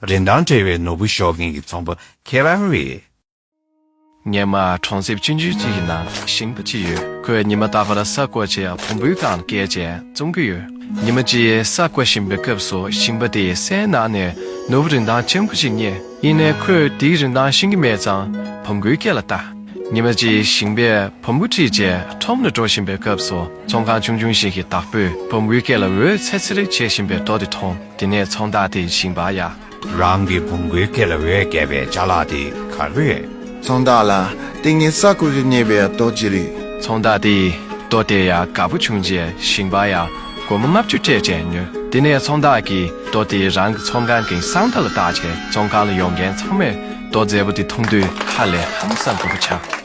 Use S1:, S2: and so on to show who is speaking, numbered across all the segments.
S1: རིན་ཐང་བྲལ་བའི་ནོར་བུ་ཤོག་མཁན་གྱི་ཚོང་པ་ཁྱེད་རང་
S2: རེད། ཉེ་མ་གྲོང་གསེབ་སྤྱི་འཇུས་གཅིག་གི་ནང་ཞིང་པ་གཅིག་ཡོད་ཁོས་ཉི་མ་རྟག་པར་ས་བརྐོ་བྱེད་ཡག་བོང་བུའི་གངས་སྐྱེས་ཅན་བཙོང་གི་ཡོད་ཉི་མ་གཅིག་ས་བརྐོ་བཞིན་པའི་སྐབས་སུ་ཞིང་པ་དེས་སའི་ནང་ནས་ནོར་བུ་རིན་ཐང་ཆེན་པོ་ཞིག་རྙེད་ཡིན་ནས་ཁོས་དེའི་རིན་ཐང་ཤེས་ཀྱི་མེད་ཙང་བོང་བུའི་སྐེ་ལ་བཏགས་ཉི་མ་གཅིག་ཞིང་པས་བོང་བུ་ཁྲིད་རྗེས་ཁྲོམ་ལ་འགྲོ་བཞིན་པའི་སྐབས་སུ་ཚོང་ཁང་ཆུང་ཆུང་ཞིག་གི་བདག་པོས་བོང་བུའི་སྐེ་ལ་འོད་འཚེར་འཚེར་རེ་བྱེད་བཞིན་པའི་རྡོ་དེ་མཐོང། དེ་ནས་ཚོང་བདག་དེ་བཞིན་པ་ཡང། རང་གི་བུ་མགོའི་
S1: སྐེ་ལ་འོད་བརྒྱལ་བའི་བྱ་གླག་དེ་གར་བས། ཚོང་བདག་ལ། དེ་ངའི་
S3: ས་ཁུག་རེ་རྙེད་པའི་རྡོ་རྗེ་རེད། ཚོང་བདག་དེས་རྡོ་དེ་ཡང་དགའ་པོ་བྱུང་རྗེས་ཞིང་པ་ཡང་སྒོར་མོ་ལྔ་བཅུ་སྤྲད་རྗེས་ཉོས། དེ་ནས་ཚོང་བདག་གིས་རྡོ་
S2: དེ་རང་གི་ཚོང་ཁང་གི་སྲང་མདའ་ལ་བཏགས་རྗེས་ཚོང་ཁང་ལ་ཡོང་མཁན་ཚང་མས་རྡོ་མཛེས་པོ་དེ་མཐོང་དུས་ཧ་ལས་ཧམ་ས་དགོད་པོ་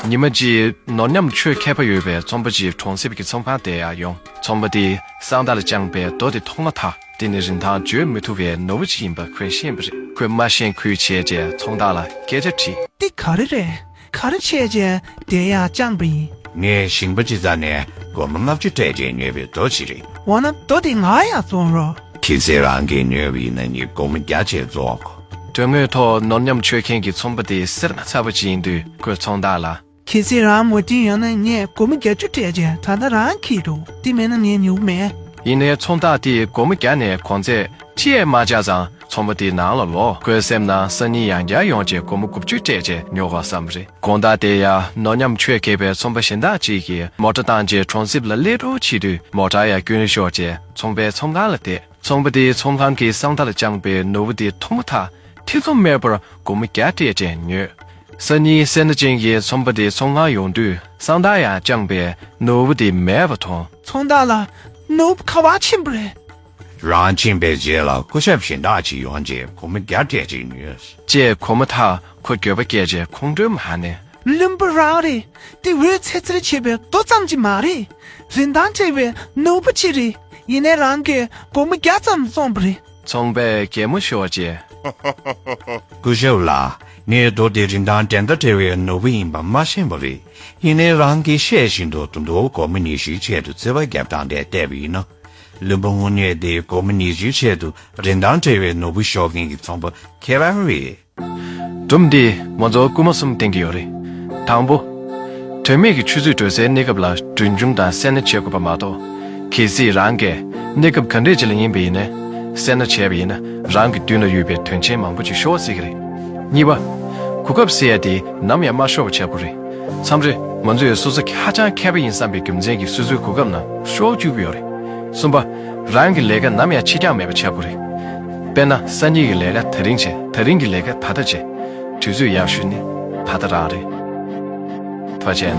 S2: བྱ། ཉི་མ་རྗེས་ནོར་ཉམ་ཆུ་མཁས་པ་ཡོད་པའི་རྩོམ་པ་པོ་གཅིག་གྲོང་གསེབ་ཀྱི་ཚོང་ཁང་དེ་ཡང་ཡོང། ཚོང་པ་དེས་སྲང་མདའ་ལ་དཔྱངས་པའི་རྡོ་དེ་མཐོང་མ་ཐག། དེ་ནི་རིན་ཐང་བརྗོད་མི་
S4: ཐུབ་པའི་ནོར་བུ་ཅིག་ཡིན་པ་ཁོས་ཤེས་པ་རེད། ཁོས་མ་ཤེས་ཁུལ་བྱས་རྗེས་ཚོང་བདག་ལ་སྐད་ཆ་དྲིས། འདི་ག་རེ་རེད་ག་རེ་བྱས་རྗེས་བསྡད་ཡག་བཅངས་པ་ཡིན།
S1: ངས་ཞིང་པ་སྤྱི་ཙག་ནས་སྒོར་མོ་ལྔ་བཅུ་སྤྲད་རྗེས་ཉོས་པའི་རྡོ་ཞིག་རེད། འོ་ན་རྡོ་དེ་ང་ཡང་བཙོང་
S4: རོགས། ཁྱེད་ཚོས་
S1: རང་གིས་ཉོས་པ་ཡིན་ན་ངས་སྒོར་མོ་བརྒྱ་བཅས་བཙོང་གོ། དོན་དངོས་ཐོག་ནོར་ཉམས་ཆོད་མཁན་གྱི་
S2: ཚོང་པ་དེ་སེར་སྣ་ཚ་བོ་ཅིག་ཡིན་དུས་ཁོས་ཚོང་བདག་ལ། ཁྱེད་ཚེ་རང་མོ་རྒྱན་
S4: ཡོད་ན་ངས་སྒོར་མོ་བརྒྱ་ཅུ་སྤྲད་རྗེས་ད་ལྟ་རང་གིས་འདུག་དེ་མེད་ན་ངས་ཉོ་གི་མེད། ཡིན་ནའི་ཚོང་བདག་དེས་སྒོར་མོ་བརྒྱ་ནས་གོང་ཚད་ཁྲི་ཡས་མ་བཅག་ཙང་ཚོང་པ་དེའི་ནང་ལ་ལོག་ཁོའི་
S2: སེམས་ན་སང་ཉིན་ཡང་བསྐྱར་ཡོང་རྗེས་སྒོར་མོ་དགུ་བཅུ་སྤྲད་རྗེས་ཉོ་དགོས་བསམ་རེ། དགོངས་དག་དེ་ཡང་ནོར་ཉམས་ཆོས་མཁས་པའི་ཚོང་པ་གཞན་དག་ཅིག་གིས་མོ་ཏྲ་བཏང་རྗེས་གྲོང་གསེབ་ལ་ཀླད་སྒྲོག་བྱེད་དུས་མོ་ཏྲ་ཡར་བསྐྱོན་ཤོག་ཅེས་ཚོང་པའི་ཚོང་ཁང་ལ་བསྡད། ཚོང་པ་དེས་ཚོང་ཁང་གི་གསང་མཐའ་ལ་དཔྱངས་པའི་ནོར་བུ་དེ་མཐོང་མ་ཐག་ཐེ་ཚོམ་མེད་པར་སྒོར་མོ་བརྒྱ་སྤྲད་རྗེས་ཉོས། ས་ནི་སེར་སྣ་ཅན་གྱི་ཚོང་པ་དེ་ཚོང་ལ་ཡོང་དུས་སང་ཐག་ཡང་བཅངས་པས་ནོར་བུ་དེ་མེད་པ་མཐོང། ཚོང་
S4: བདག་ལ། ནོར་བུ་ཁ་བ་ཆེན་པོ་རེད།
S1: རང་ཕྱིན་པའི་རྗེས་ལ་སྐུ་ཞབས་གཞན་དག་ཅིག་ཡོང་རྗེས་ཁོ་མོ་རྒྱ་སྐད་ཅིག་ཉོས། ཅེས་གོ་མ་ཐག་ཁོ་འགྱོད་
S2: པ་སྐྱེས་རྗེས་ཁོང་ཁྲོའི་མ་ནས། བླུན་པོ་རང་རེད། དེ་འོས་ཚེ་རྩེར་
S4: བྱེད་པའི་རྡོ་ཙམ་གྱི་མ་རེད། རིན་ཐང་བྲལ་བའི་ནོར་བུ་གཅིག་རེད། ཡིན་ནའི་རང་གིས་སྒོར་མོ་བརྒྱ་
S2: ཙམ་བཙོངས་པ་རེད། ཚོང་པས་གད་མོ་ཤོར་རྗེས། སྐུ་
S1: ཞབས་ལགས་ངས་མདོ་སྡེ་རིན་ཐང་འགྲན་ཟླ་བྲལ་བའི་ནོར་བུ་ཡིན་པ་མ་ཤེས་པ་རེད་ཡིན་ནའི་རང་གིས་བཤད་བཞིན་དུ་དུ་མདོ་གོ་མི་ནི་ཞིག་ཆེད་དུ་བརྩེ་བ་རྒྱབ་སྟངས་དེ་བལྟས་པ་ཡིན་ན། བླུན་པོ་དངོས་གནས་དེ་གོ་མི་ནི་ཞིག་ཆེད་དུ་རིན་ཐང་བྲལ་བའི་ནོར་བུ་ཤོར་མཁན་གྱི་ཚོང་པ་ཁྱེད་རང་རེད། སྒྲུབ་འདིས་མོ་རྫོགས་སྐུལ་མ་གསུམ་བསྟན་གྱི་ཡོད་རེད། དང་པོ། དོན་མེད་ཀྱི་ཆུ་ཚོད་དྲོད་སའི་གནས་སྐབས་ལ་གྲོན་ཆུང་དང་གསལ་ན་བྱེད་དགོས་པ་མ་གཏོགས།
S2: གལ་སྲིད་རང་གས་གནས་སྐབས་ག་འདྲས་ཅིག་ལ་ཡིན་པ་ཡིན་ན། གསལ་ན་བྱས་པ་ཡིན་ན་རང་གི་མདུན་ལ་ཡོད་པའི་དོན་ཆེན་མང་པོ་ཅིག་ཤོར་བ་སྲིད་ཀྱི་རེད། གཉིས་པ། གོ་སྐབས་གསལ་ཡ་དེ་ནམ་ཡང་མ་ཤོར་བ་བྱ་དགོས་རེད། མཚམས་རེ་ང་ཚོས་སོ་སོ་ཧ་ཅང་མཁས་པ་ཡིན་བསམ་པའི་རྒྱུ་མཚན་གྱིས་སོ་སོའི་གོ་སྐབས་ནང་ཤོར་བཅུག་གི་ཡོད་རེད། གསུམ་པ། རང་གི་ལས་ཀ་ནམ་ཡང་ཕྱི་འགྱངས་མེད་པ་བྱ་དགོས་རེད། དཔེར་ན་གསར་རྙེད་ཀྱི་ལས་ཀ་ད་རིང་བྱས་ད་རིང་གི་ལས་ཀ་ད་ལྟ་བྱས། དུས་ཚོད་ཡག་ཤོས་ནི་ད་ལྟ་རང་རེད། དཔེར་བྱས་ན།